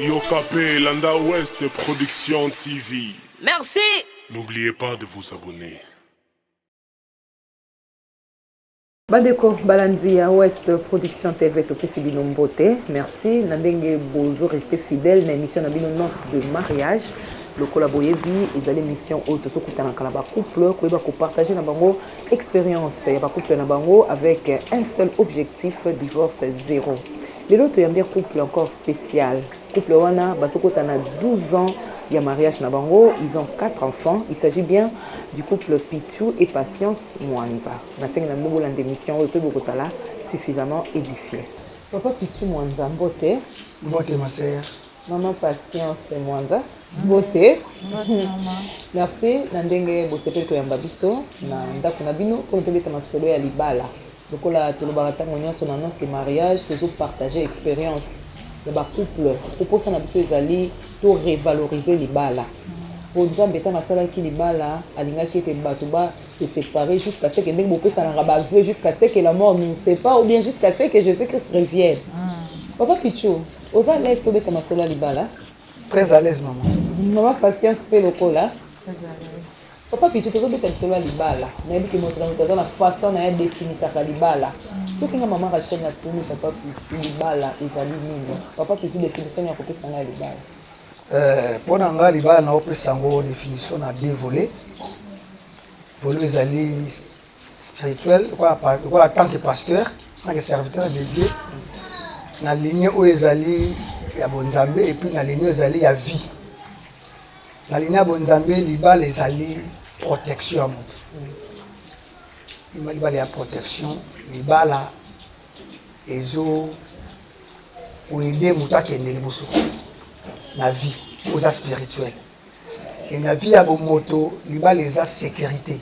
Yokapé, Landa Ouest Production TV. Merci. N'oubliez pas de vous abonner. bandeko balandi ya west production tv topesi bino mbote merci na ndenge bozo reste fidèle na émission na bino nonce de mariage lokola boyebi ezali émission oyo tozokutanaka na bacouple koyeba kopartage na bango experience ya ba couple na bango avec un seul objectif divorce zero lelo toyambi couple encore spécial couple wana bazokota na 12 ans il y a mariage na bango, ils ont quatre enfants. Il s'agit bien du couple Pitou et Patience Mwanza. Na sengi na bobo lande mission oyo pe bokosala suffisamment édifié. Papa Pitou Mwanza mbote. Mbote ma sœur. Maman Patience Mwanga, mbote. Merci na ndenge bosepeli koyamba biso na ndako na bino mpo tobeta masolo ya libala. Lokola tolobaka ntango nyonso na annonce de mariage, tozopartage expérience ya bacouple. Koposa na biso ezali to revalorize libala. Mpo Nzambe ntango asalaki libala, alingaki ete bato ba se separe jusqu'à ce que ndenge bopesanaka baveu jusqu'à ce que la mort nous sépare ou bien jusqu'à ce que Jésus-Christ revienne. Papa Pichu, Oza lese kobeta masolo ya libala? Très à l'aise maman. Maman patience pe lokola. Très à l'aise. papa pito tozobeta lisolo ya libala nayebi ke moto na moto aza na façon na ye adefinisaka libala soki nga mama rachel na tuni papa pito libala ezali nini papa pito definition ya kopesa nga ya libala eh, mpo na nga libala naopesa yango definition na deux volet volet ezali spirituel lokola tant que pasteur tant que serviteur de dieu na ligne oyo ezali ya bonzambe epuis na ligne oyo ezali ya vie na ligne ya bonzambe libala ezali protection ya moto libala ya protection libala ezo koyede moto akende liboso na vie oza spirituel e na vie ya bomoto libala eza sécurité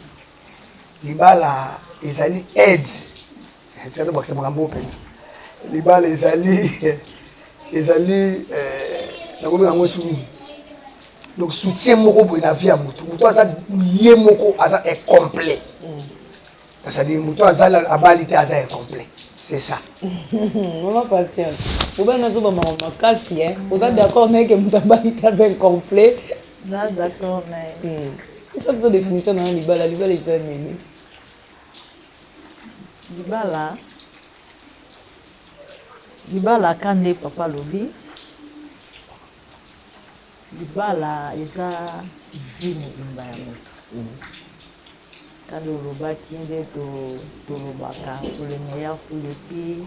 libala ezali aide tika tobakisa makambo oyo mpenza libala ezali ezali eh, nakomi yango esu nini donc soutien moko boye na vie ya motu motu aza ye moko aza incomplet c'est-à-dire motu aza abali te aza incomplet c'est ça mama patience obai nazoba makambo makasi oza d'accord naye ke motu abali te aza incomplet Na d'accord na ye. Hmm. Esa biso definition na libala, libala eza nini? Libala libala ka nde papa alobi libala eza vi mobimba ya moto hmm. kanda olobaki nde tolobaka pour le meilleur pour le pire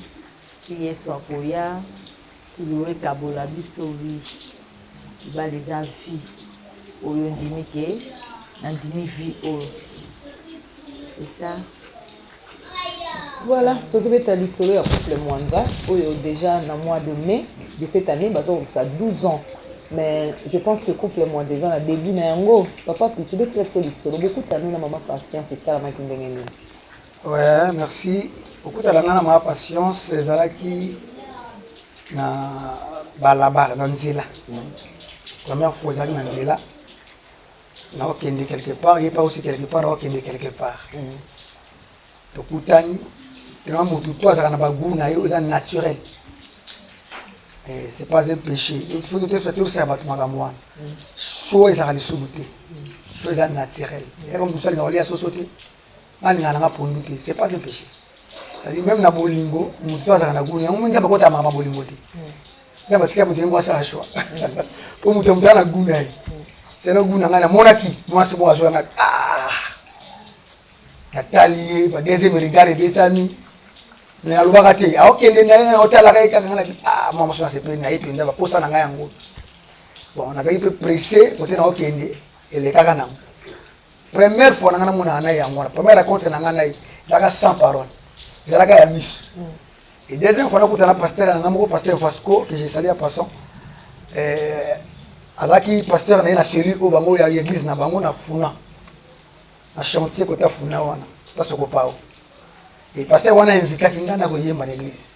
ti yesu akoya Tuluwe kabola biso oui libala eza vie oyo ndimi ke nandimi vie oyo c'est ça voilà tozobeta lisolo ya couple mwanza oyo déjà na mois de mai de cette année bazokokisa 12 ans mais je pense que couple mwanza eza na début na yango papa pitube tolakisa lisolo bokutani na mama patience esalamaki ndenge nini Ouais, merci. Okutala nga na ma patience ezalaki na balabala na nzela. Première fois ezalaki na nzela. Na okende quelque part, ye pa aussi quelque part, na okende quelque part. Tokutani, tellement mutu to azalaka na bagout na ye oyo eza naturel. Eh, c'est pas un péché. Il faut toyebisa toyebisa bato makambo wana. Show ezalaka lisumu te. Show eza naturel. Eza comme mosali na kolia soso te. Balinga nanga pondu te, c'est pas un péché. C'est-à-dire même na bolingo, mutu to azaka na guni, yango nzambe kota mama bolingo te. Nzambe atika mutu yango asala choix. Po mutu mutu na guni ye. C'est na guni nanga na monaki, mwasi bo azo yanga. Ah! Natali ye, ba deuxième regard ebetami. Mais alobaka te, aokende na ye, otalaka ye kaka ngana ki, ah, mwa mwasi na sepeli na ye penza ba posa na ngai yango. Bon, nazaki pe pressé, kote na okende, elekaka nango. première fois na ngai namonaka na ye yango wana première raconte na ngai na ye ezalaka sans parole ezalaka ya miso mm. et deuxième fois nakuta na pasteur na ngai moko pasteur vasco que je sali ya passant eh, azalaki pasteur na ye na cellule oyo bango ya église na bango na funa na chantier kota funa wana tasoko pao e pasteur wana invitaki ngai na koyemba na église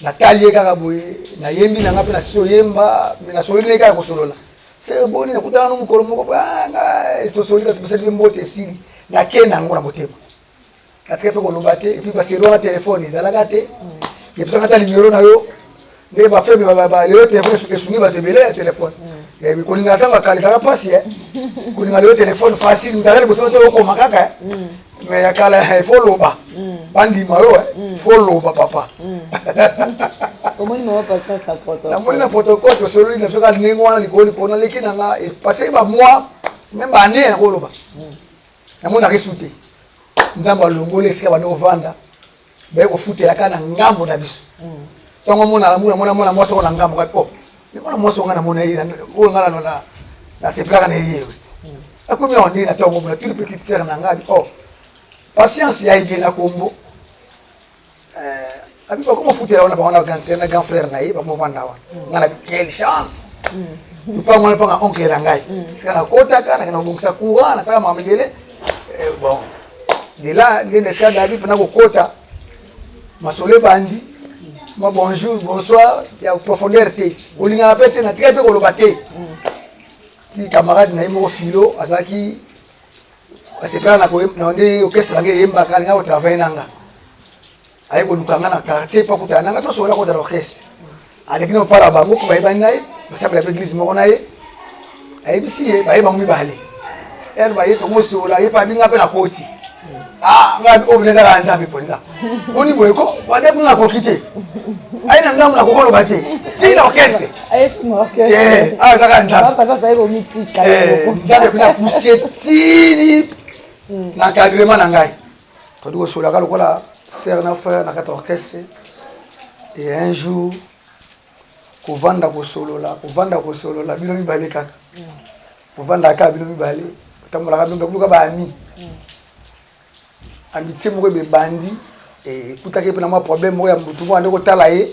natali ye kaka boye nayembi na nga mpe nasi oyemba me nasololi naye kaka kosolola se boni nakutana no mokolo moko banga ah, tosoli kati basali mpe mbote esili nake na yango na motema natika mpe koloba te epuis baseri wana telefone ezalaka te yebisaka ata nimero na yo nde bafaible lelo telefone esungi bato ebele ya telefone mm. eh, kolinga ntango akalisaka mpasi eh. kolinga lelo telefone facile mtala liboso te okoma kaka eh. mm. mais ya kala il faut loba bandima yo il faut loba papa namoni na protocole tosololi na biso kaka ndenge wana likolo likolo naleki na nga epase bamois meme baane nakoloba namonaka esu te nzambe alongoli esika bande ovanda baye kofutela kaka na ngambo na biso ntongo mm. mona namuna mona mwana mwasi oko na ngambo kati o oh, mwana mwasi onga namona ye oyo nga nano nasepelaka na ye ewiti mm. akomi awa nde na ntongo mona tuli petite sere na ngai o oh, patience ya ebe na kombo eh, abi bakoma futela wana bawana na grand frère na ye bakomofanda wana mm. nga na quelle chance lupango wana mpanga oncle na ngai sika nakotaka nakenda kobongisa courant nasaka makambo ebele eh, bon de là nde na esika nayaki mpena kokota masolo ebandi ma bonjour bonsoir ya profondeur te olingaka mpe te natikaki mpe koloba te ti camarade na ye moko filo azalaki asepela na nde orchestre yange eyembaka alinga kotravaille na nga aye koluka nga na quartier mpo akutana na nga tosokola kota na orchestre aleki na mopala bango mpo bayebani na ye basambela mpe eglise moko na ye ayebisi ye baye bango mibale ere baye tomosola ye mpe abinga mpe na koti ah, nga oyo bina ezalaka nzambe mpenza boni boye ko bande kuna nakoki te aye na ngambo nakokoloba te ti na orchestre eh, ah, azaka nzambe eh, nzambe kuna pousie tini na cadrement na ngai todi kosolaka lokola sere na frere na kati ya orchestre e un jour kovanda kosolola kovanda kosolola bino mibale kaka kovandaka kaka bino mibale otambolaka bino mibale kuluka baami amitie moko ebebandi ekutaki mpe na mwa problème moko ya motu moko ande kotala ye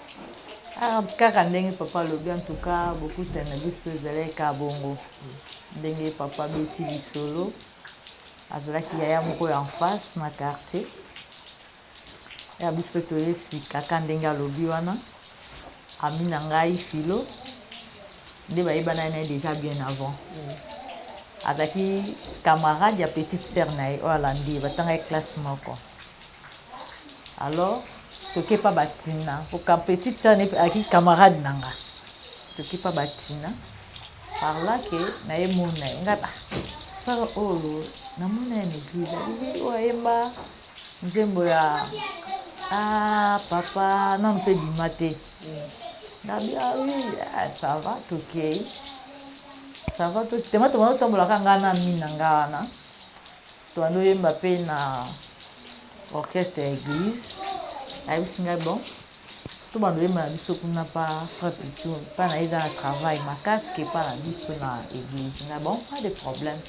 Ah, kaka ndenge papa alobi en tout cas bokutani na biso ezalaki kaka bongo ndenge papa abeti lisolo azalaki yaya moko ya enface na quartier ya biso mpe toye sika ka ndenge alobi wana ami na ngai filo nde bayebana na ye déjà bien avant mm. azalaki camarade ya petite sœur na ye oyo alandi ye batangaki classe moko mm. alors toke pa batina oka petit tane aki camarade na nga toke pa batina par là que na ye mona ye nga ah, sara oyo oh, na mona ye na église abibi oyo oh, ayemba nzembo ya ah papa na mpe bima te nabi ah oui ah, ça va tokei ça va tokitema tomona totambolaka ngai na mina ngai wana Toano yemba pe na orchestre ya eglise ayebisi ngai bon tobanda oyemba na biso kuna pa fra pitou mpa na ye eza na travail makasi ke mpa na biso na eglise nga bon pas de problème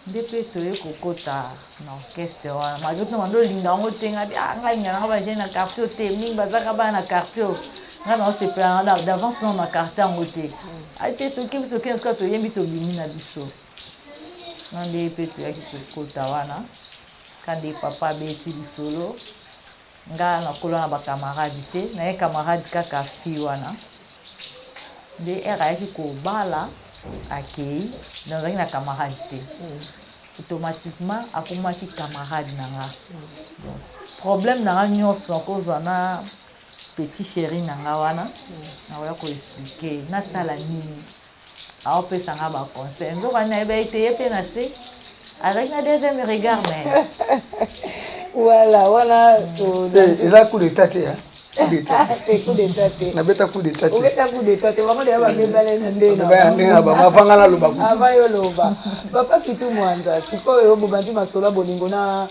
nde mpe toye kokota na orchestre wana malgre tuna bando olinga yango te nga ah, nga linga nanga baje na quartier te mingi bazaka bana na quartier nga na osepela nanga d'avance nao na quartier yango te mm. ayi te tokebisi okende soka toyembi tobimi na biso Nga nde ye pe toyaki kokota wana ka nde papa abeti lisolo nga nakola na ba camarade te naye camarade kaka fille wana nde ere ayaki kobala akei nazalaki na camarade te mm. automatiquement akomaki camarade na nga mm. problème na nga nyonso nakozwa na petit chéri na nga wana mm. nakoya koexplike nasala nini aopesa nga ba conseil nzoka nini ayebaki te ye mpe na se azalaki na deuxième regard na ye voilà wana eh, eza coup d'état te nabeta coup d'état tendengena bango avanga naloba avayoloba papa kitu mwanza sikoyo bobandi masolo ya bolingo na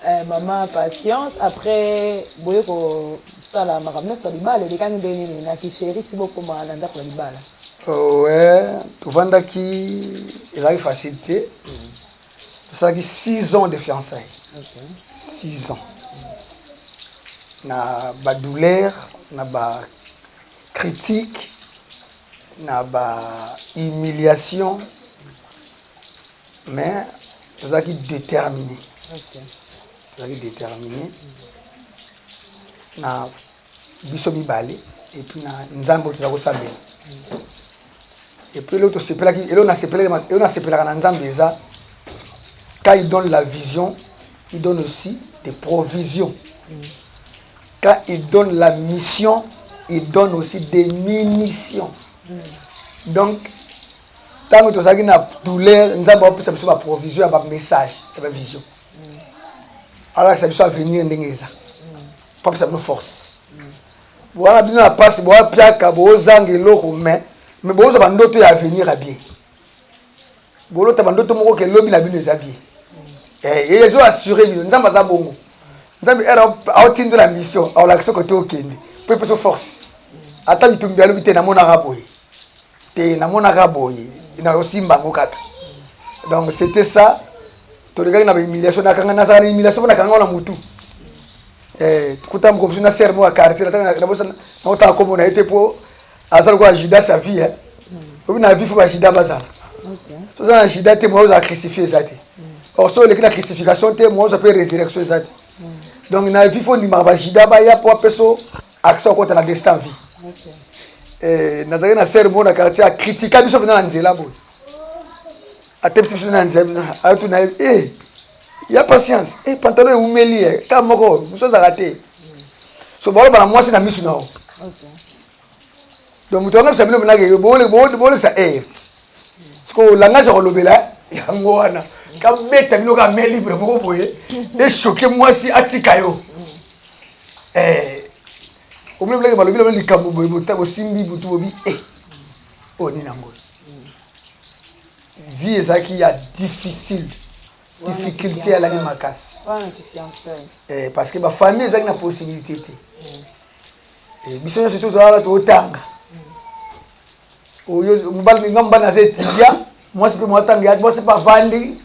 eh, mama patience après boye kosala makambo nyonso ya libala elekani nde nini na kisheri ti bokoma na ndako ya libala Ouais, tovandaki ezalaki facile te tosalaki 6 ans de fiançailles 6 ans na badouleur na bacritique na bahumiliation mais tozalaki déterminé tozalaki déterminé na biso mibale et puis na nzambe oyo toza kosambela et puis eloko tosepelaki eloko nasepelaki eloko nasepelaka na nzambe eza quand il donne la vision il donne aussi des provisions quand il donne la mission il donne aussi des munitions donc ntango tozalaki na douleur nzambe apesa biso baprovision ya bamessage ya bavision alakisa biso avenir ndenge eza kopesa bino force wana bino na mpasi boapiaka bozanga eloko me me bozwa bandoto ya avenir ya bien bolota bandoto moko ke lobi na bino eza bien eh, ezo assure bino nzambe aza bongo nzambe ere aotindo na mission aolakisa kote okende mpo epeso force ata bitumbi alobi te namonaka boye te namonaka boye nayosimba yango kaka donc c'était ça tolekaki na bahumiliation nakanga nazala na humiliation mpo nakanga na motu eh, kuta moko bisu na serre moko ya quartier naotanga kombo na ye te mpo aza lokola judas ya vie eh. obi na vie fo bajida bazala soza na jida te moya ozala crucifie eza te mm. or so oleki na crucification te moya oza mpe résurrection eza te mm. donc na vie fo ondimaka bajida baya mpo apeso accès okota na destin vie okay. eh, nazalaki na sere moko na quartier akritika biso mpena na nzela boye atebisi biso na nzela ayatu na ye eh, ya patience eh, pantalon ewumeli ye eh, kaka moko mosu azalaka te so baloba na mwasi na misu na yo donc moto angabisa bino mpenake bolekisa ert sikoyo langage ya kolobela eh, yango wana kabeta bino ka main libre moko boye esoke mwasi atika yo eh omoni bilenge balobi lobi likambo boye bota bosimbi butu bobi e eh, oyo oh, nini yango vie ezalaki ya difficile difficulté alaki makasi eh, parce que bafamille ezalaki na possibilité te mm. eh, biso nyonso tozalala totanga mm. oyo mobali minga mobali naza etidia mwasi mpe mwatanga yaki mwasi mpe avandi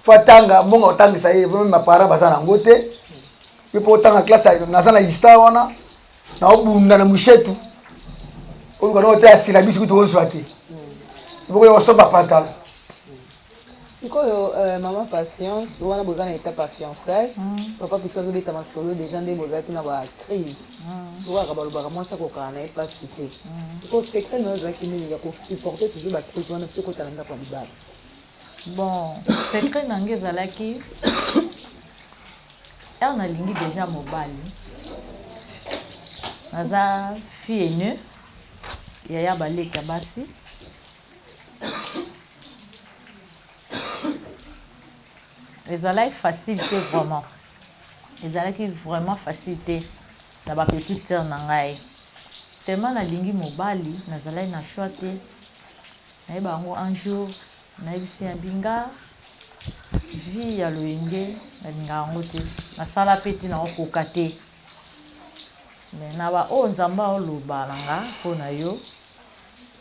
fo atanga mbongo otangisa ye mapara baza na yango te yo mpo otanga classe ya- naza na lista wana naobunda na mushetu oluka noko te asilabisi kutu ozwa te bokoya kosomba pantalo sikoyo euh, mama patience wana boza na étape ya fiançaille papa pito azobeta masolo déjà nde bozalaki na ba crise tokaka balobaka mwasi akokana na ye mpasi te sikoyo secret na yo ezalaki nini ya kosupporte toujours ba crise wana mpe kota na ndako ya libala Bon, secret na nga ezalaki heure nalingi deja mobali naza fille aînée yaya baleki ya basi ezalaki facile te vraiment ezalaki vraiment facile te na bapetite sœur na ngai tellement nalingi mobali nazalaki na choix te Nayeba yango un jour nayebisi ya binga vie ya loyenge nalingaka yango te nasala pe te nao koka te mais na ba oyo nzambe aoloba na nga mpo na yo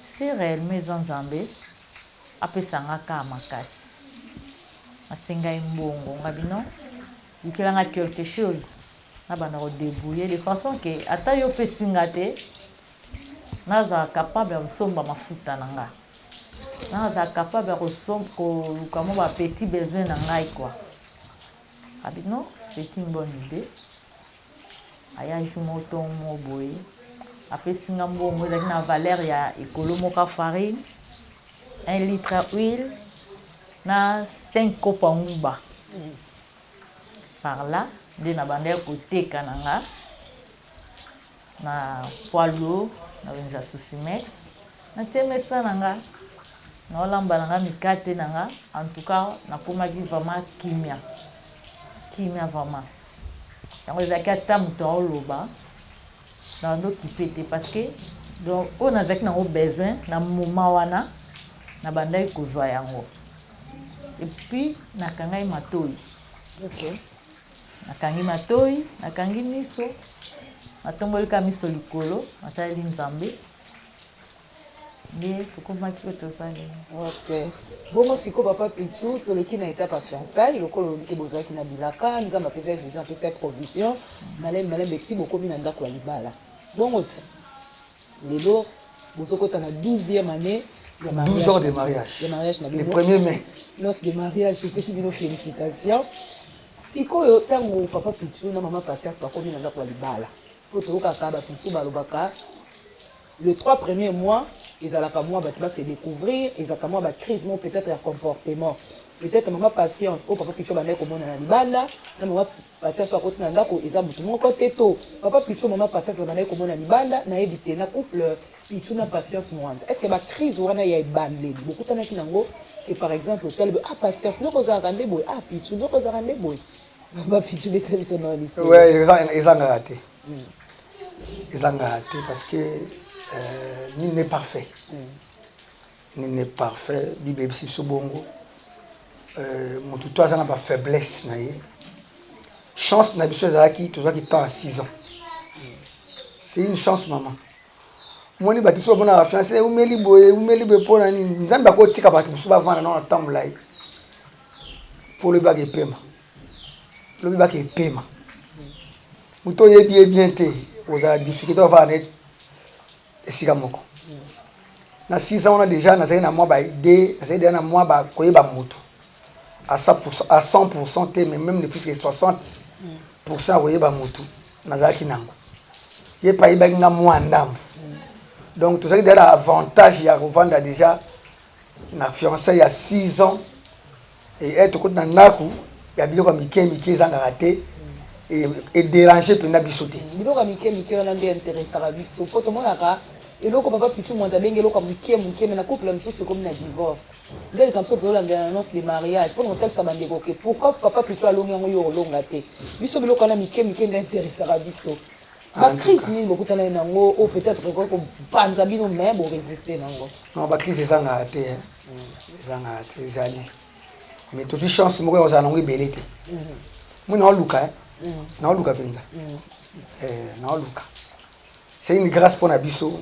si réellement eza nzambe apesa nga ka makasi asengai mbongo nga bino lukela nga quelque chose nabanda ko debrouiller de façon que ata yo opesi nga te Nazala capable ya kosomba mafuta na nga. Nazala capable ya koluka mwa ba petits besoins na ngai quoi. Abi non, c'est une bonne idee. Aya jour moko to moko boye, apesi nga mbongo ezalaki na valeur ya ekolo moka farine, 1 litre ya huile na 5 kopo ya nguba. Par là, nde nabandaki koteka na nga Na poids lourd na wenza susimex na tie mesa na nga nao lamba na nga mikate na nga en tout cas na komaki vraiment kimia kimia vraiment yango ezalaki ata moto aoloba na bando kipe te parce que donc oyo nazalaki nango besoin na moma wana na bandaki kozwa yango epuis nakangai matoi okay. Nakangi matoyi, nakangi miso, natomboli ka miso likolo, nataleli Nzambe. Nde tokomaki oyo toza lelo. Okay. Bongo siko papa Pichu, toleki na etape ya fiançailles, lokola olobi ke bozalaki na bilaka, Nzambe apesa vision, apesa provision, malembe malembe ti bokomi na ndako ya libala. Bongo ti lelo bozokota na 12e année ya 12 ans de mariage ya mariage na le premier mai noce de mariage epesi bino félicitation sikoyo ntango papa pitu na mama patience bakomi na ndako ya libala mpo toyokaka bato mosusu balobaka le trois premier mois ezalaka mwa bato base découvrir ezalaka mwa bacrise mo peut-être ya comportement peut-être mama patience oyo papa pitu abandaki komonana libanda na mama Patience oyo akoti na ndako eza motu moko te to papa Pichu mama Patience babandaki komona libanda nayebi te na couple Pichu na Patience Mwanza est-ce que ba crise wana ya ebandeli bokutanaki nango que par exemple otali boye ah Patience ndoko ozalaka nde boye ah Pichu ndoko ozalaka nde boye papa Pichu beta biso na liso ouais ezangaka te hmm. ezangaka te parce que euh, nul n'est parfait mm. Nini est parfait, Bible eyebisi biso bongo. Euh, moto to aza na ba faiblesse na ye. Chance na biso ezalaki tozwaki temps ya 6 ans. C'est une chance maman. omoni bato mosusu bamonaka fiance eumeli boye eumeli boye mpo na nini nzambe akotika bato mosusu bavanda nao na temps molai mpo lobi baka epema lobi baka epema moto oyebi ye bien te ozala difficulté ovanda na ye esika moko na sisa wana deja nazali na mwa baide nazali deja na mwa bakoyeba motu à 100% te mais même ne puisque 60% ya koyeba motu nazalaki nango ye mpe ayebaki nga mwa ndambo donc tozalaki deja na avantage ya kovanda deja na fiançailles ya 6 ans et eh, tokoti na ndako ya biloko ya mike mike ezangaka te ederange mpenza biso te biloko ya mike mike wana nde interesaka biso mpo tomonaka eloko papa pitu mwanzi abengi eloko ya moke moke me na couple mosusu ekomi na divorce nde likambo biso tozolandela na annonce de mariage mpo na kotalisa bandeko ke pourquoi papa pitu alongi yango yo olonga te biso biloko wana mike mike nde interesaka biso Ba crise nini bokutanaki na yango oyo peut-être ekoki kopanza bino mais bo resiste na yango? Non, ba crise ezangaka te, mm. ezangaka te, ezali mais tozwi chance moko ya kozala na yango ebele te. Mm-hmm. Moi naoluka, eh. mm. naoluka mpenza, mm. eh, naoluka. C'est une grâce mpo na biso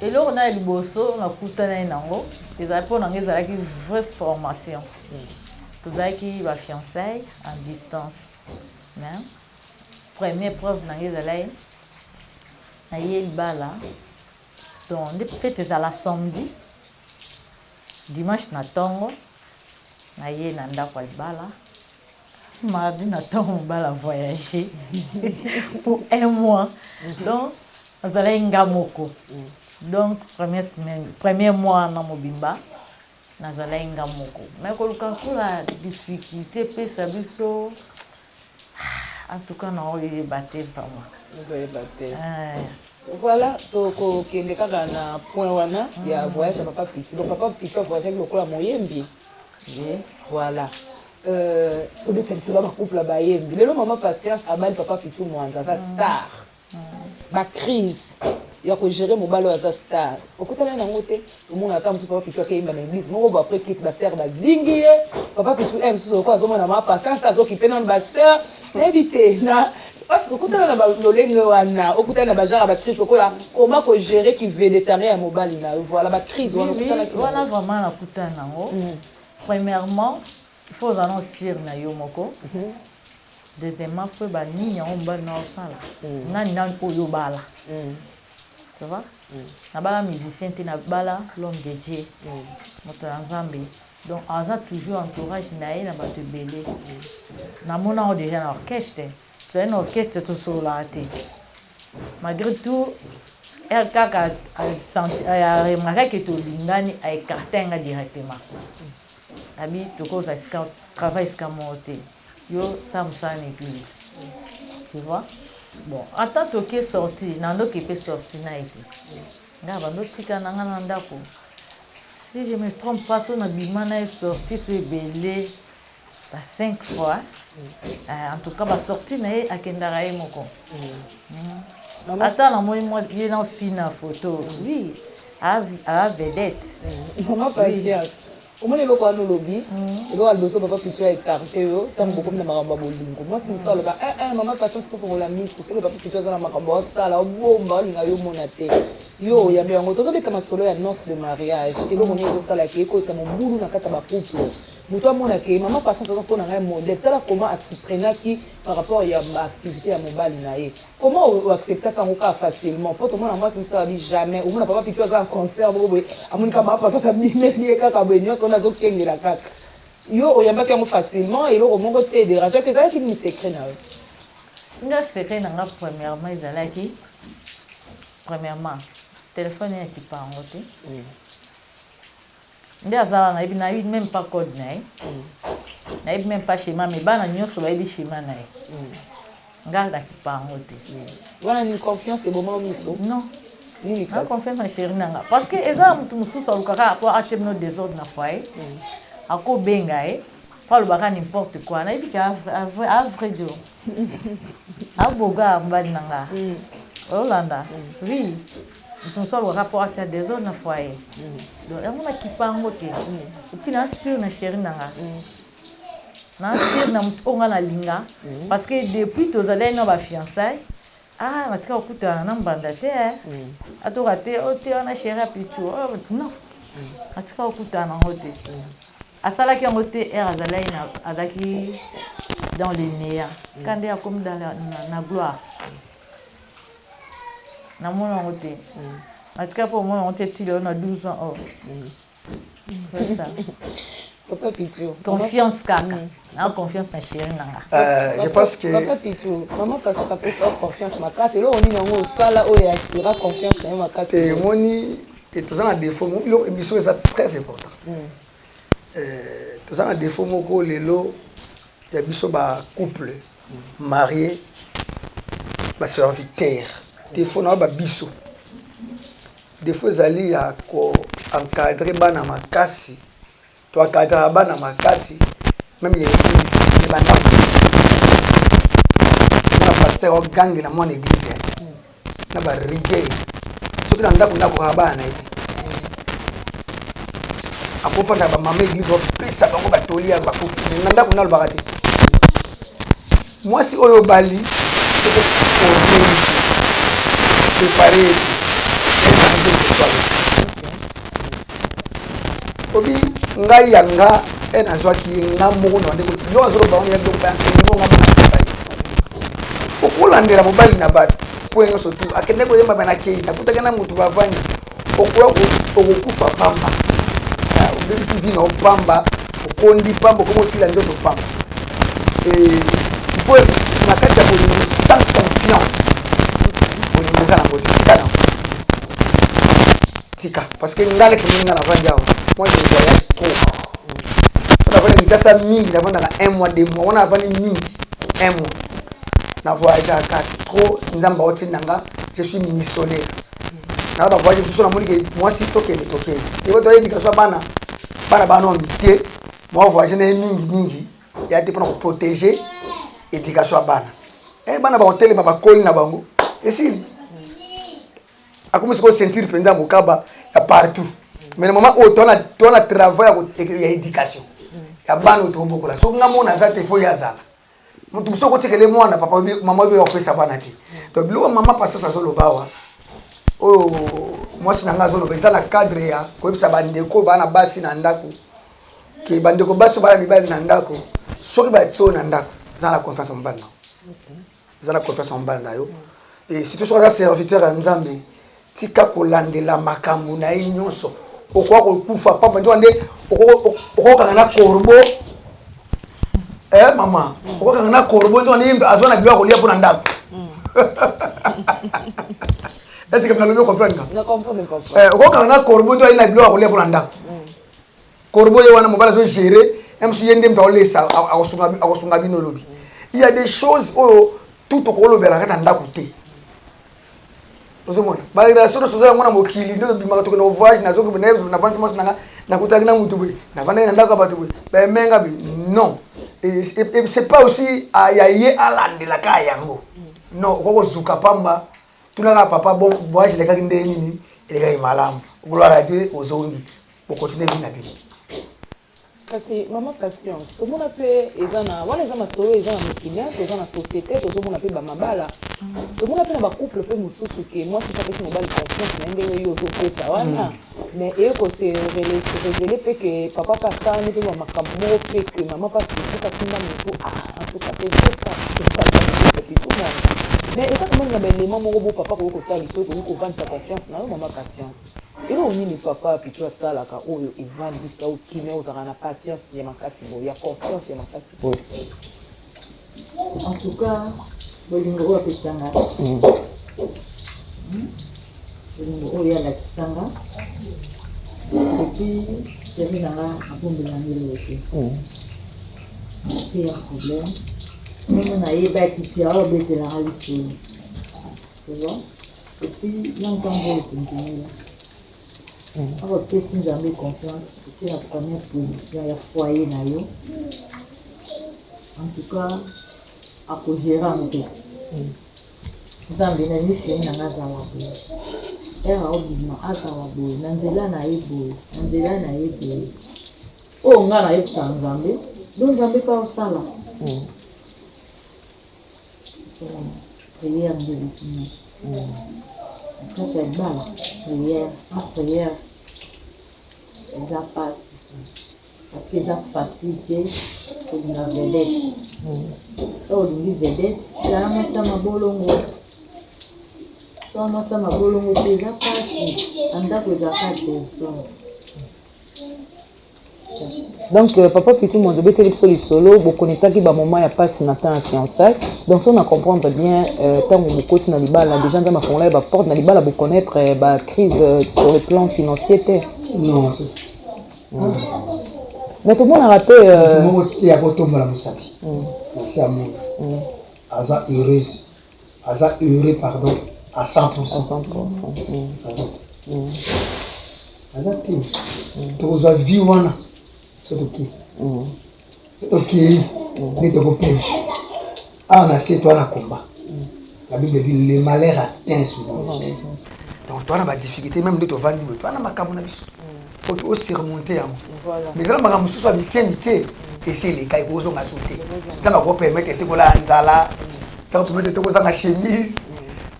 Eloko na ya liboso nakutanaki nango ezalaki mpo na ngai ezalaki vraie formation tozalaki ba fiançailles en distance mais première preuve na ngai ezalaki naye libala donc nde fete ezala samedi dimanche na ntongo naye na ndako ya libala Mardi na temps mobala voyager pour un mois donc nazalaki nga moko donc première semaine premier mois wana mobimba nazalaki nga moko mais koluka kola difficulté epesa biso en tout cas naoyeba te vraiment okoyeba te voilà tokokende kaka na point wana ya voyage ya papa piti donc papa piti avoyagaki lokola moyembi Je, voilà. Euh, tobeta lisolo ba couple bayembi lelo mama patience abali papa pitu mwanza aza mm. star mm. bacrise ya kogere mobali oyo aza star okutana nango te omona ata mosusu papa pitu akeyimba na église moko bo apres kit basere bazingi ye papa pitu e eh, mosusu oko azomona mama patience azokipe nano basere nayebi te na parce que okutana na balolenge wana okutana na bagenre ya bacrise lokola koma kogere kivedetarien ya mobali na yo voilà bacrise wana okutanaki wana vraiment nakutana nango mm. premièrement il faut ozala na osire na yo moko mhm. deuxièmement faut oyeba nini yango mobali na osala mm. nani nani oyo obala mm. tu vois nabala musicien te nabala l'homme de dieu moto ya nzambe Donc aza toujours entourage na ye na bato ebele. Namona yango deja na orchestre. Tozali na orchestre tosololaka te. Malgré tout, RKK aremarka ke tolingani, aecarta nga directement. Abi tokozala esika travail esika moko te. Yo sala mosala na eglise. Tu vois? Bon, ata toke sorti, na ndoki pe sorti na ye te. Nga bando tika na nga na ndako. Si je me trompe pas, son abimana est sorti sur Belé ba cinq fois. Euh, en tout cas, ba sorti na ye akendaka ye moko. Mm. Ata na moi moi ye na fina photo. Oui. A a vedette. Mm. Maman Patience. omoni eloko wana olobi mm. eloko ya liboso papa pitu ya ekarte yo ntango mm. bokomi na makambo ya bolingo mwasi mosusu aloba eh, eh, mama passion tokofongola miso seke papa pitu aza na makambo asala obomba olinga yo omona te Yo oyambi yango tozobeta masolo ya nonce de mariage eloko nini ezosala ke ekotisa mobulu na kati ya bacouple moto amona ke mama patience aza mpona ngai modèle tala koma asuprenaki par rapport ya baactivité ya mobali na ye koma oacceptaka yango kaka facilement mpo tomona mwasi mosusu abi jamais omona papa pitu aza na concert moko boye amoni kaka mama patience abimeli ye kaka boye nyonso wana azokengela kaka yo oyambaki yango facilement eloko moko te derangeaki ezalaki nini secret na yo nga secret na nga premièrement ezalaki Premièrement, telephone ya kipa yango te. Nde aza wana nayebi nayebi même pas code na ye. Nayebi même pas schéma mais bana nyonso bayebi schéma na ye. Ngai na kipa yango te. Wana ni confiance eboma miso. Non. Nini kasi? Confiance na chérie na nga. Parce que eza mutu mosusu alukaka po atie bino desordre na foyer. Akobenga ye. po alobaka n'importe quoi nayebi ke a vrai dio aboga mobali na nga olanda oui mosu alobaka po atia desordre na foyer donc yango nakipa yango te epuis na sur na chéri na nga na sur na motu oyo nga nalinga parce que depuis tozalaki na bafiançaille ah natika kokutana na mbanda te atoka te ote wana chéri ya pitu non natika kokutana yango te Asalaki yango te ere azalaki na azalaki dans le néant mm. ka nde akomi dans la, na, na gloire namona yango te mm. natika mpo omona yango te ti lelo na 12 ans or confiance kaka na confiance na chéri nanga euh, je pense que papa pitou maman pasaka pesa confiance makasi eloko nini yango osala oyo asira confiance na yo makasi te omoni toza na défaut biloko émission eza très important mm. Toza na defaut moko lelo ya biso ba couple marie ba serviteur defaut na ba biso defaut ezali ya ko encadrer bana makasi to encadrer bana makasi meme ya eglise ya ba ndako na pasteur ogangela mwana eglise na ba rigueur soki na ndako ndako kaka bana na ye akofanda bamama eglise bapesa bango batoli ya bakuki me na ndako nalobaka te mwasi oyo obali prepare obi ngai ya nga e nazwaki ye nga moko na bandeko yo azoloba wana ya biloko ba enseignement nga moko napesa ye okolandela mobali na bato mpo ye nyonso tu akende koyemba banakei nakutaki na moto bavandi okoya okokufa pamba ah, obebisi vi na opamba okondi pamba okomi osila nzoto pamba faut na kati ya bolingo sans confiance bolingo eza na botikala tika parce que nga leki mingi nga navandi awa moi je voyage trop so navandi mikasa mingi navandaka un mois deux mois wana navandi mingi un mois na voyageaka trop nzambe aotinda nga je suis missionnaire nala bavoyage mosusu namoni ke mwasi tokende tokende eko toya éducation ya bana bana bana wa mikie mwa voyage na ye mingi mingi ya te mpona koprotege éducation ya bana e bana bakotelema bakoli na bango esili akomi sikoyo ceinture mpenza mokaba ya partout mais na mama oyo toa na travail ya éducation ya bana oyo tokobokola soki nga mona aza te fo ye azala moto mosusu okotikele mwana papa mama oyo akopesa bana te donc biloko mama pasas azoloba awa oyo mwasi na ngai azoloba eza na cadre ya koyebisa bandeko bana basi na ndako ke bandeko basi bana mibali na ndako soki batie oyo na ndako eza na confiance mobali nao zala confiance na mobali na yo e surtout soki aza serviteur ya nzambe tika kolandela makambo na ye nyonso okoka kokufa pamba nzoka nde okokanga na corbo eh, mama okokanga na corbo nzoka nde azwa na bilo ya kolia mpo na ndako mm. est ce que nalobi okomprendre nga okokanga na corbo nzoka ye na bilo ya kolia mpo na ndako mm. Corbeau ye wana mobali azo gérer ya mosusu ye nde moto aolesa akosunga bino olobi il y a des choses oyo tout okolobela kaka ndako te ozomona barelation nyonso oza yango na mokili nde tobimaka tokende voyage nazoki navandi mwasi nanga nakutanaki na motu boye navandaki na ndako ya bato boye baemenga be non c'est pas aussi ya ye alandelaka yango non okoki kozuka pamba tunaka papa bon voyage elekaki ndenge nini elekaki malamu gloire à dieu ozongi bokontinue vi na bino kasi mama patience tomona mpe eza na wana eza masolo eza na mokili toza na société tozomona mpe bamabala tomona mpe na bacouple mpe mosusu ke mwasi apesi mobali confiance na ye ndenge yo ozopesa wana mm. Mais eye ko se reveler pe que papa pe asalami pe ba makambu moko pe que maman pe asuki pe asimba mutu ah en tout cas c'est vrai ça mais eza quand meme na ba element moko bo papa akoki kotalisa yo okoki kovandisa confiance na yo maman patience eloko nini papa pitu asalaka oyo evandisa yo kimia ozalaka na patience ya makasi boye ya confiance ya makasi boye En tout cas, bolingo oyo apesa nga hmm. Hmm. bolingo oyo alakisa nga epuis jami na nga abombela nga eloko te hmm. se ya problème ndenge nayebaki ti aobetela nga lisolo tu vois epuis na nzambe oyo tondimela Opesi Nzambe confiance, otie na première position ya foyer na yo, en tout cas ako gérer yango te. Nzambe na nini chéri na nga azala boye, ere aobima azala boye, na nzela na ye boye, na nzela na ye boye, oyo nga nayebisa Nzambe, donc Nzambe mpe aosala. prière nde eleki nyonso na kati ya libala prière sans prière eza mpasi parce que eza facile te kolinga vedete to olingi vedete zala mwasi ya mabolongo to mwasi ya mabolongo te eza mpasi na ndako ezalaka te Donc euh, papa Pitou Mondo beteli biso lisolo bo connectaki ba moment ya passe na temps ya fiançailles. Donc si on a comprendre bien euh, tango bokoti na libala déjà nzama fongola ba porte na libala bo connaître euh, ba crise euh, sur le plan financier te. Non. Mm. Mais tout le monde a raté euh... tout le monde ya botombola musapi. Mm. Merci à moi. Mm. Aza heureuse. aza heureux pardon à 100% aza te tokozwa vie wana so tokei so tokei nde tokopema awa na se toa na komba la bible dit le malheur atteint souvent donc toa na badifficulté meme nde tovandi boye toa na makambo na biso oki o surmonter yango mais ezala makambo mosusu ya mike mike esi eleka ekozonga so te nzambe akopermettre te kolala nzala nzambe akopermettre te kozanga chemise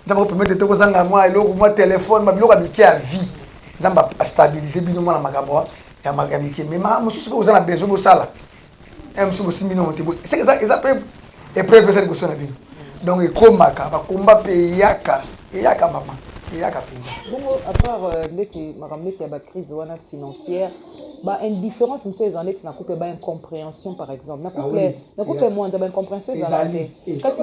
nzambe akopermettre te kozanga mwa eloko mwa telefone mabiloko ya mike ya vie nzambe astabilise bino mwana makambo ya mike mais makambo mosusu mpe oza na besoin bosala ya mosusu bosimbi nongo te ce eza eza mpe epreuve eza liboso na bino donc ekomaka bakomba mpe eyaka eyaka mama eyaka mpenza bongo apart euh, ndeti makambo ndeti ya bacrise wana financière ba indifférence mosusu eza ndeti na couple ba incomprehension par exemple na couple ah na couple mwanza ba incomprehension ezala te kasi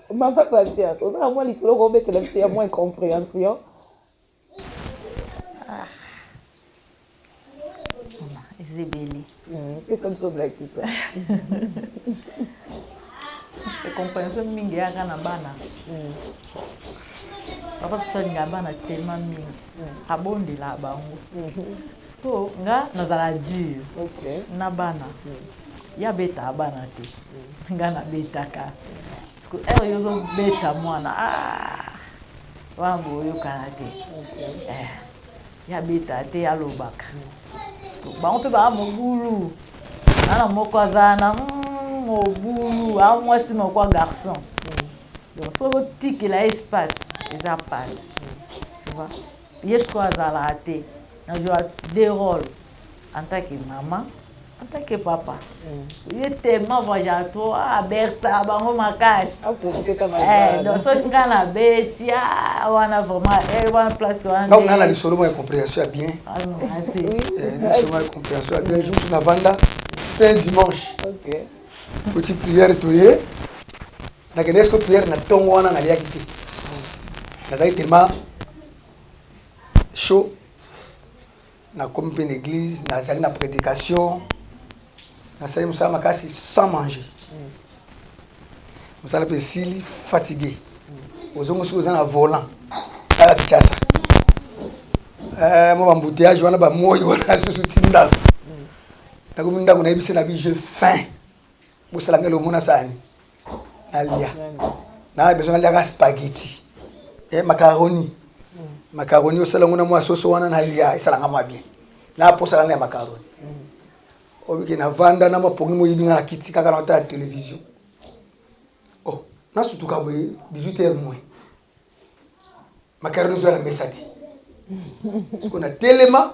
Maman Patience, oza na mwa lisolo ko obetela biso ya mwa incomprehension. Ah. Ezebeli. Hmm, pesa biso blakisa. Incomprehension mingi eyaka na bana. Hmm. Papa Patience alinga bana tellement mingi. Hmm. Abondela bango. Mm -hmm. Sikoyo nga nazala dur okay. na bana mm. ye abetaa bana te mm. nga nabetaka sikoyo ere yo ozobeta mwana ah! wana boyokana te okay. eh. ye abetaa te alobaka mm. bango mpe baa mobulu ana moko azala na mm, mobulu a mwasi moko ya garçon mm. donc soki otikela espace eza pasi mm. tu vois Ye sikoyo azalaka te na joua deux role en tant que mama en tant que papa ye tellement voyagaka trop ah abercaka bango makasi eh, donc soki ngai nabeti ah, wana vraiment eh, wana place wana donc nana lisolo moko ya comprehension ya bien ah, eh, lisolo moko ya comprehension ya bien jour navanda c'est dimanche petit prière toye nakendaki siko priere na ntongo wana naliaki te nazalaki telema chaud nakomi mpe na église nazali na prédication nasali mosala makasi sans manger mosala mpe esili fatigue ozongo soki oza na volant tala kinshasa eh, mwa bambouteillage wana bamoi wana susu ti ndako nakomi ndako nayebisi na bi je fin bosala ngai lomo na sani nalia naa besoin naliaka spaghetti eh, macaroni macaroni osala yango na mwa soso wana nalia esalanga mwa bien naposaka na ya macaroni obike navanda na mapongi moyibi nga na kiti kaka na otala television oh, nasutuka boye 18 heure moins macaroni ezoya na mesa te siko na telema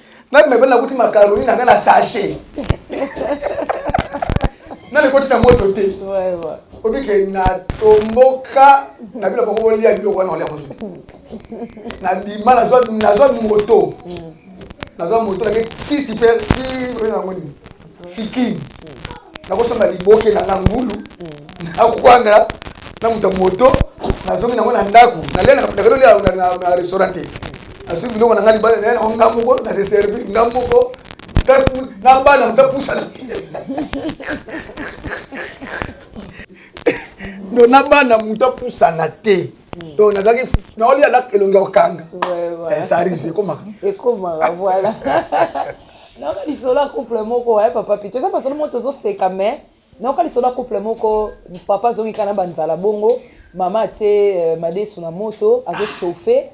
Na bimebele na kuti macaroni na nga na sachet. Na likoti na moto te. Obi ke na tomboka na bilo bango bolia biloko wana olia mosusu. Na bima na zwa na zwa moto. Na zwa moto na ke tisi pe ti oyo na ngoni. fikin nakosomba liboke na na ngulu nakwanga na moto ya moto nazongi nango na ndako nalelakalolia na restaurant te nasuki biloko na ngai libala naye nango nga moko na se servir nga moko na bana moto apusana do na bana moto apusana te donc nazalaki naolia elongi ya kokanga ça arrive ekomaka ekomaka voilà nayoka lisolo ya couple moko eh, papa pito eza masolo moko tozoseka mais nayoka lisolo ya couple moko papa azongi kaka na banzala bongo mama atie euh, madesu na moto azochauffe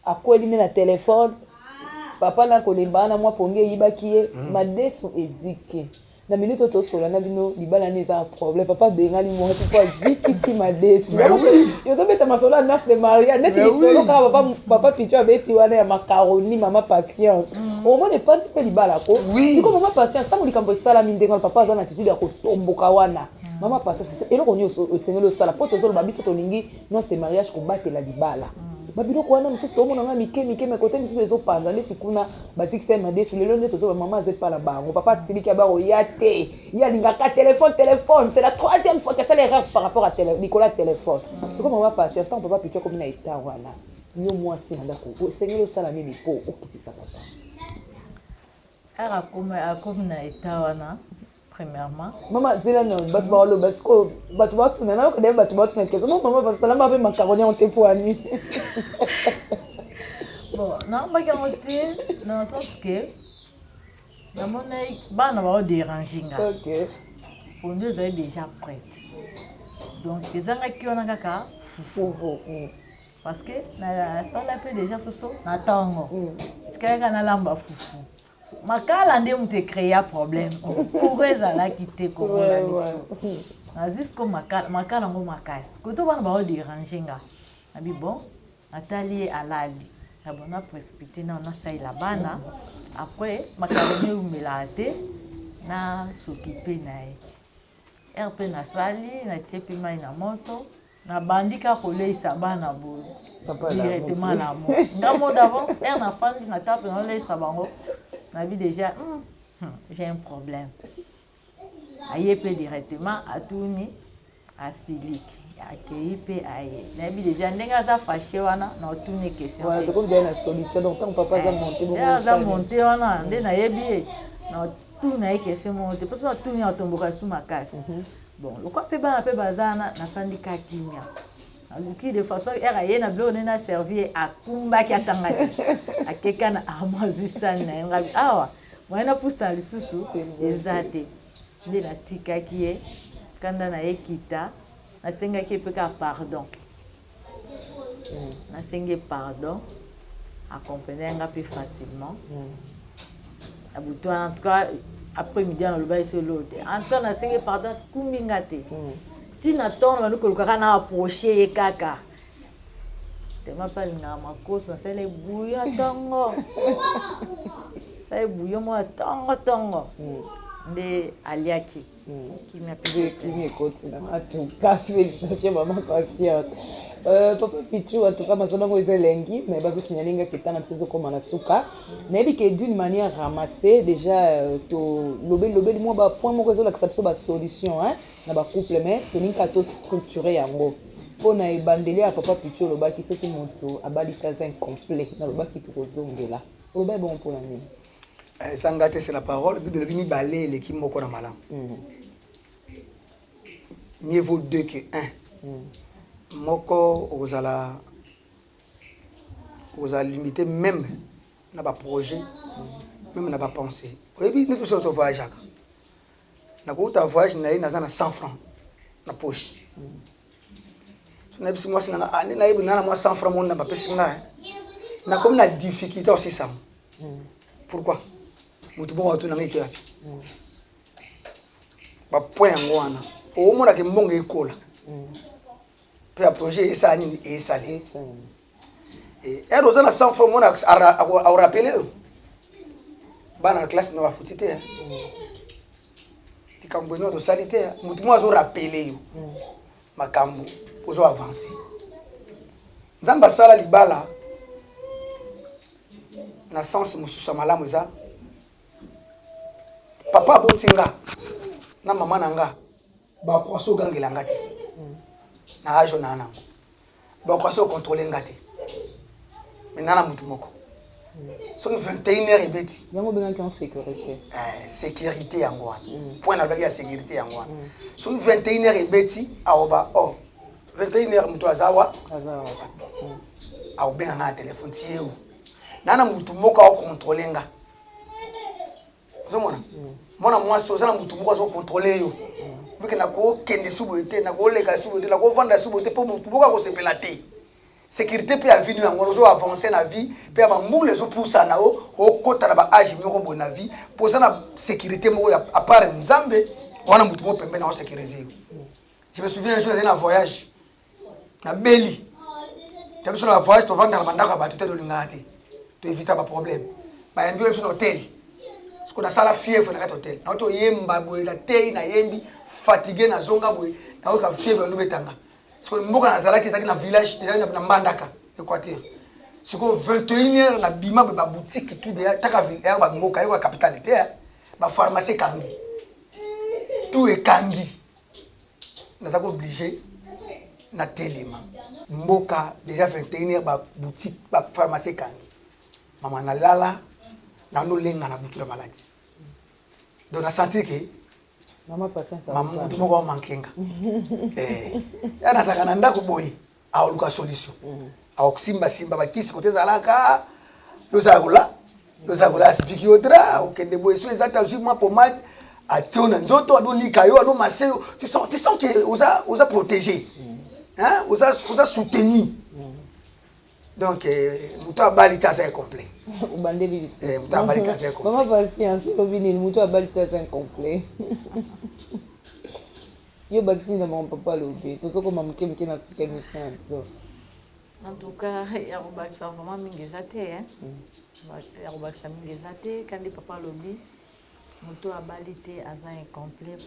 akweli nde na telefone papa na kolemba wana mwa pongi eyibaki ye madesu eziki na minute oyo tosolola na bino libala nde eza na problème papa abengani mwasi mpo azikisi madesi yozobeta masolo ya nurse de maria neti lisolo kaka papa, papa picho abeti wana ya macaroni mama patience mm. omona epanzi mpe libala ko siko mama patience ntango likambo esalami ndenge wana papa aza na attitude ya kotomboka wana mm. mama patience eloko nini osengeli osala mpo tozoloba biso tolingi Noce de mariage kobatela libala ba biloko wana mosusu toomona nga mike mike me kote mosusu ezopanza ndeti kuna bazikisa ye madesu lelo nde tozoba mama aza epa na bango papa asiliki ya bango ya te ye alingaka telefone telefone c'est la troisième fois que asala erreur par rapport à tele, likolo ya telefone siko mama patience ntango papa pitu akomi na eta wana yo mwasi na ndako esengeli osala nini mpo okitisa papa akomi na eta wana Premièrement. Mama zela na batu ba walo bas ko batu ba tuna na ko de batu ba tuna kesa. Mama ba sala ma pe macaroni en tepoani. Bon, na ba ka mote dans le sens que na mona bana ba déranger nga. OK. Pour nous elle déjà prête. Donc ezanga ki wana kaka fufu. Mm. Parce que na sala pe déjà soso na tango. Mm. Tikaka na lamba fufu. makala nde moto ecrea problème courant ezalaki te komona biso na jusqu'au makala makala yango makasi koto bana bao derange nga nabi bon natali ye alali na bon na précipité nao nasalela bana après makala nde eumelaka te na sokipe na ye heure mpe nasali natie mpe mai na moto Na bandi kaka ko leyisa bana boye directement la mort. Nga mot d'avance heure na fandi na table na leyisa bango na bi deja hmm, hmm, j'ai un problème. Aye pe directement atuni asiliki akeyi mpe aye nayebi deja ndenge aza fache wana na otuni questionaza monte wana nde nayebi ye na otuna ye question moko te mposo natuni atomboka su makasi mhm. bon lokola mpe bana mpe baza wana nafandi ka kimia aluki de façon ere aye na biloko nde naservi ye akumbaki atanga te akeka na armoise sani na ye ngabi awa moye napusana lisusu eza te nde natikaki ye kanda na ye kita nasengaki ye mpe kaka pardon nasengi ye pardon acomprendre nga mpe facilement na butu wana en tout cas après midi wana olobaki so eloo te en tout cas nasengi ye pardon akumbi nga te ntina mm. ntongo na bandi kolukaka na approche ye kaka tema mpe alingaka makoso nasala ebuyo ntongo sala ebuyo mwa ntongo ntongo mm. nde aliaki kimia kimia ekoti na matuka félicitation mama patiente Euh, papa pichu en tout cas masolo yango eza elengi mais bazosignale nga keta na biso ezokoma na suka nayebi ke d'une manière ramassée déjà euh, tolobeli lobeli mwa bapoint moko ezolakisa biso basolution na bacouple mais tolingi kaka tostructure yango mpo na ebandeli ya papa pichu olobaki soki moto abali taza incomplet nalobaki tokozongela olobai bongo mpo na nini eza nga te c'est la parole bible elobi mibale eleki moko na malamu mm. mieux vaut deux que un mm. moko okozala okozala limité même na baprojet mm. même na bapensée oyebi neti biso tovoyageaka nakouta voyage na ye naza na 100 francs na poche mm. nayebisi mwasi na nga ah, nde nayebi nga na mwa 100 franc moni na bapesi nga eh. nakomi na difficulté osisango hmm. pourquoi motu bongo atuna ngai ekeyapi hmm. bapoint yango wana omonaka mbongo ekola hmm. mpe ya projet esala nini esali ere oza na 100 franc moni aorapele yo bana na classe na bafuti te eh. likambo eno tosali te motu moko azo rapele yo mm. makambo ozo avance nzambe asala libala na sense mosusu ya malamu eza papa aboti nga na mama na nga bakwasi ogangela nga te na age oyo naa nango bakwasi ocontrole nga te me naa na motu moko soki 21 heure ebeti yango obengaki en sécurité eh, sécurité yango wana mm. point nalobaki ya sécurité yango wana mm. soki 21 heure ebeti aoba o 21 heure moto aza wa mm. aobenga nga na telefone tieu naa na motu moko aocontrole nga ozomona mwana mwasi oza na motu moko azokontrole yo mike nakokende su boye te nakoleka su boye te nakovanda su boye te mpo motu moko akosepela te sécurité mpe ya vie no yango ozo avance na vie mpe ya bambula ezopusana o okota na baage moko boye na vie mpo oza na sécurité moko ya apart nzambe wana motu moko pembe na osécurise yo je me souviens un jour ezali na voyage nabeli ta biso na bavoyage tovandaka na bandako ya bato te tolingaka te toevita baproblème bayambi oyo biso na hotel siko nasala fievre na kati hotel nao toyemba boye natei nayembi fatigue nazonga boye nayoka fievre nobetanga siko mboka nazalaki ezalaki na village ezalaki na mbandaka équateur siko 21 heure na bima boye baboutique tout deya taka ya bamboka yoko ya capitale te bapharmacie ekangi tout ekangi naza ko oblige na telema mboka deja 21 heure ba boutique ba pharmacie ekangi mama nalala nano lenga na butu na maladi donc na sentir ke mama patience mama mutu moko amankenga eh ya nazaka na ndako boye aoluka solution mm. akosimbasimba bakisi kote ezalaka yozala kola yozala kola asipiki yo dra okende boye so eza te azwi mwa pomade atie yo na nzoto adonika yo adomase yo tu sens ke oza, oza protégé mm. hein? oza, oza soutenu mm. donc euh, moto abali te aza incomplet obandeli lisusu eh, moto abali te aza incomplet mama pasiance olobi nini moto abali te aza incomplet Yo bakisi nzambe mon papa lobe tozokoma moke moke na suka emission ya biso en tout cas ya kobakisa vraiment mingi eza te eh? mm. ya kobakisa mingi eza te kandi papa alobi moto abali te aza incomplet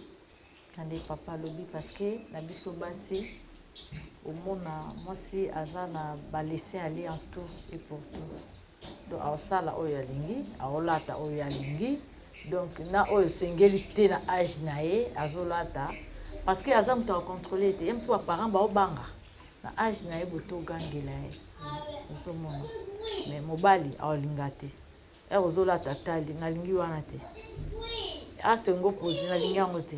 kandi papa alobi parce que na biso basi omona mwasi aza na balese ale en tout et pour tout Donc aosala oyo alingi, aolata oyo ye alingi donc na oyo esengeli te na age na ye azolata parce que aza moto akocontrole te ye mosuku baparent baobanga na age na ye boto ogangela ye ozomona me mobali aolinga te ere ozolata tali nalingi wana te acte yango posi nalingi yango te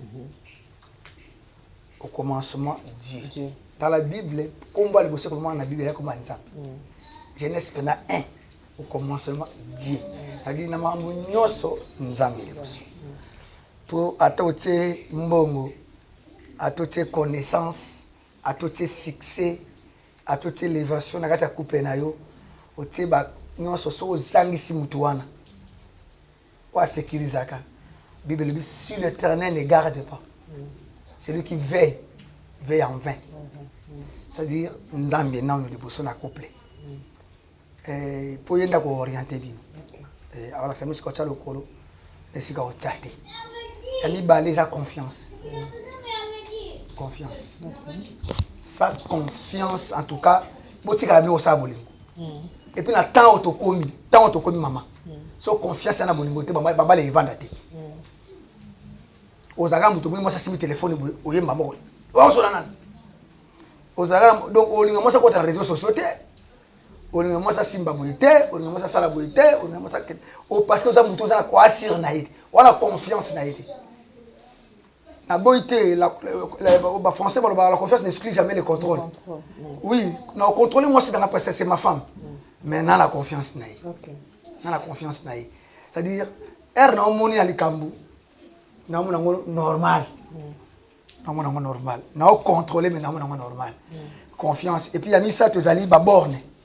Mhm. Au commencement, Dieu. Dieu. Dans la Bible, combat à l'ibosé comment la Bible, il y a comme un exemple. Mm. Genèse pendant un, au commencement, Dieu. Mm. C'est-à-dire, na mambo nyoso nzambe liboso. Mm. Pour atotie mbongo, atotie connaissance, atotie succès, atotie l'évasion, na kata coupe na yo, otie ba nyoso so ozangisi mutu wana. oyo asekirizaka bible elobi si l'éternel ne garde pas celui qui veille veille en vain c'est-à-dire nzambe nano liboso na couple eh, mpo ye nde akooriente bino eh, aolakisa mosika otya lokolo na esika otya te ya mibale eza confiance confiance sa confiance en tout cas botikala bino kosala bolingo epuis na ntango tokomi ntango tokomi mama so confiance ya na bolingo te babala evanda te ozalaka moto moi mwasi asimbi telefone boye oyemba moko ozola nani ozalaka donc olinga mwasi akota na réseau sociaux te olinga mwasi asimba boye te olinga mwasi asala boye te olinga mwasi parce que oza moto oza na koasire na ye te wana confiance na ye te naboyi te bafrançais balobaka la confiance n'exclut jamais le contrôle oui na contrôle mwasi nanga parce que c'est ma femme mais na na confiance na ye na na confiance na ye c'est à dire heure na omoni ya likambo namona yango normal namona yango normal na ocontrôle mais namona yango normal confiance et puis ya misato ezali baborne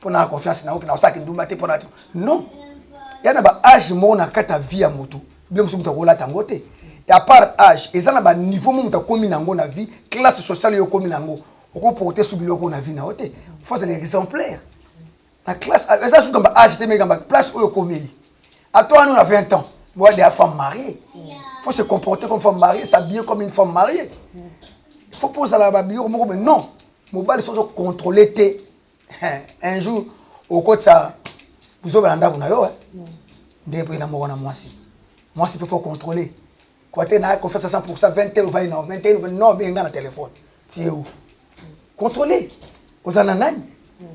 mpo na confiance na yo na osalaki ndumba te mpo na non ya na ba age moko na kati ya vie ya motu bino mosusu moto akolata yango te ya part age eza na ba niveau mo moto akomi na yango na vie classe sociale yo okomi na yango okoporte su biloko na vie na yo te faut azala exemplaire na classe eza suka ba age te meka ba place oyo okomeli ato wana na 20 ans boa de femme mariée faut se comporter comme femme mariée s'habiller comme une femme mariée faut mpo ozala ba biloko moko mais non mobali soki ozocontrôle te un jour okotisa buzoba na ndako na yo eh? mm. nde mpe na moko na mwasi mwasi mpe fo contrôler kwa te na confiance à 100% 20 heures ovai nao 20 heures no obenga na telefone tie u contrôler oza na nani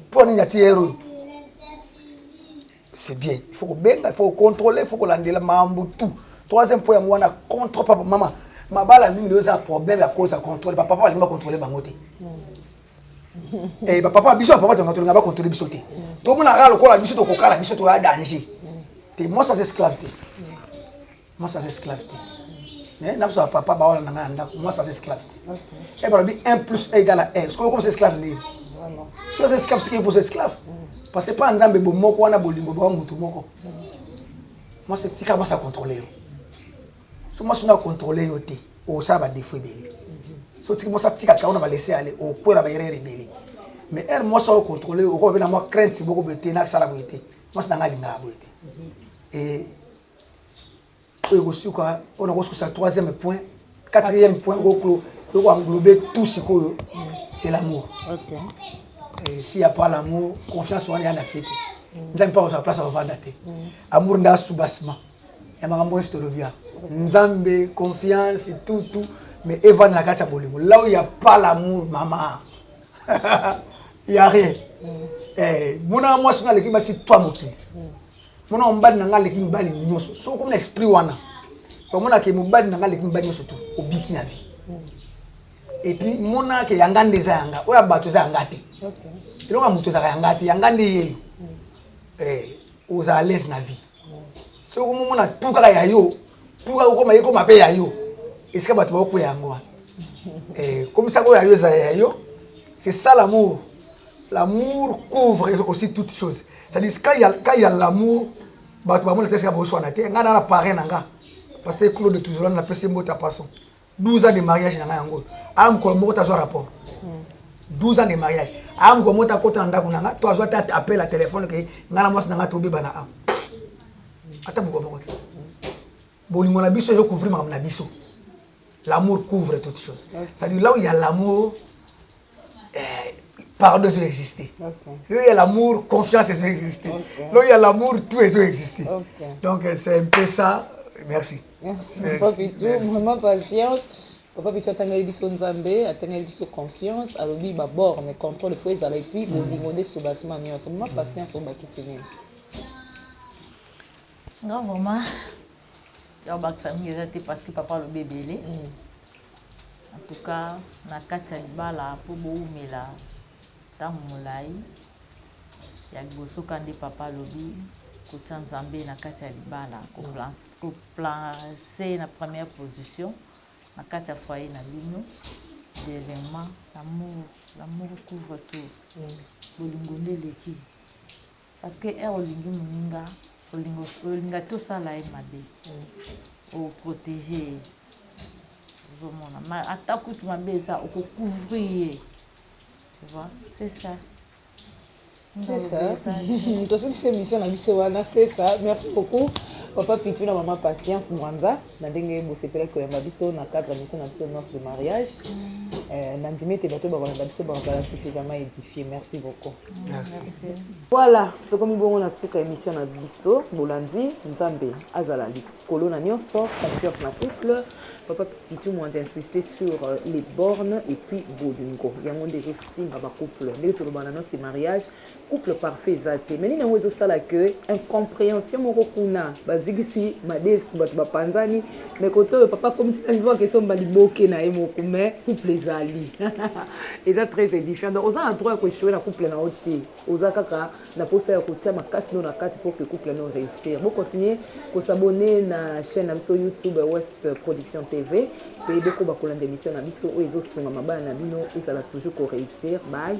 mpo mm. nini atie heure oyo c'est bien il faut kobenga il faut kocontrole il faut kolandela mambo tout troisième point yango wana contre papa mama mabala mingi lelo eza problème ya cause ya controle bapapa balingi bacontrole bango te eh, bapapa biso bapapa tonga tolinga bacontrole biso te tomonaka lokola biso tokokala biso toya danger te moi sans esclave te Moi sans esclave te. Mais n'a pas papa ba wala nanga ndako. Moi sans esclave te. Okay. Et balobi 1 plus 1 égale à 1. Ce qu'on comme esclave ni. Vraiment. Ce que esclave c'est pour esclave. Mm. Parce que pas nzambe bo moko wana bolingo ba mutu moko. Mm. Moi c'est tika moi ça contrôler yo. So moi sina contrôler yo te. O ça ba défaut beli. Mm-hmm. So tika moi ça tika ka on va laisser aller au point là ba erreur beli. Mais elle moi ça contrôler au ko ba na moi crainte boko bete na sala boyete. Moi ça nga linga boyete. Mm-hmm. Et oyo ekosuka oyo nakosukusa troisième point quatrième point okoklo oko englobe tout sikoyo c'est l'amour okay. Eh, si ya pas l'amour confiance wana ya na fete mm. nzambe mpe akozala place akovanda te mm. amour nde asubasima ya makambo nyonso tolobi ya nzambe confiance tout tout mais evanda na kati ya bolingo là où ya pas l'amour mama ya rien mm. eh, monaka mwasi nga aleki basi twa mokili mwana mobali na ngai aleki mibali nyonso soki okomi na esprit wana omona ke mobali na ngai aleki mibali nyonso tu obiki na vie epuis mona ke yanga nde eza yanga oyo ya bato eza yanga te eloko ya moto ezalaka yanga te yanga nde yeyo eh, ozala lese na vie soki omomona tu kaka ya yo tu kaka okoma ye koma mpe ya yo esika bato baokwea yango wana eh, komisaka oyo ya yo eza ya yo c'est ça l'amour L'amour couvre aussi toute chose. C'est-à-dire quand il y a quand il y a l'amour, bah tu vas monter ça pour soi naté. Nga na la parrain nga. Parce que Claude toujours na pèse mbota passant. 12 ans de mariage na yango. Alam ko moko ta zo rapport. 12 ans de mariage. Alam ko mota kota ndaku na nga, toi zo ta appel à téléphone que nga na mwasi na nga tobi bana. Ata boko moko. Bolingo na biso ezo couvrir makambo na biso. L'amour couvre toutes choses. Okay. C'est-à-dire là où il y a l'amour, eh, pardon ezo exister. Okay. Là où il y a l'amour, confiance ezo exister. Okay. Là où il y a l'amour, tout ezo exister. Okay. Donc euh, c'est un peu ça. Merci. Merci. Merci. Papa Pitou, Merci. vraiment patience. Papa Pitou atangeli biso Nzambe, atangeli biso confiance, alobi ba borne contrôle faut ezala et puis bolingo nde soubassement nyonso. Vraiment patience obakisi nini? nga vraiment ya kobakisa mingi eza te parce que papa alobi ebele mm. en tout cas na kati ya libala mpo bowumela ntango molai ya liboso ka nde papa alobi kotya nzambe na kati ya libala koplace na première position na kati ya foyer na bino deuxièmement l'amour l'amour couvre tout mm. bolingo nde eleki Parce que heure olingi muninga, olingo olinga to sala ye mabe. O protéger ye. Ozomona. Ma ata kutu mabe eza oko couvrir ye. Tu vois? C'est ça. C'est ça. Tosukisa émission na biso wana, c'est ça. Merci beaucoup. Papa Pitou na maman Patience Mwanza. na ndenge bosepelaki koyamba biso na cadre mission na biso nonce de mariage mm. eh, na ndimi ete bato bakolanda biso bakozala suffisamment édifie merci beaucoup voilà tokomi bongo na suka émission na biso bolandi nzambe azala likolo na nyonso confiance na couple papa pitu mwandi insiste sur euh, les bornes et puis bolingo yango nde ezosimba bacouple ndenge tolobana nonce de mariage Couple parfait eza te mais nini yango ezo sala que incomprehension moko kuna bazikisi madesu bato bapanzani mais kote oyo papa akomi tina niveau ya question ba liboke na ye moko mais couple ezali eza très édifiant donc oza na droit ya koechoue na couple na yo te oza kaka na posa ya kotia makasi no na kati pour que couple no réussir bo continuer kosabonner na chaîne na biso youtube west production tv mpe bokoba kolanda émission na biso oyo ezosungama bana na bino ezala toujours koréussir bye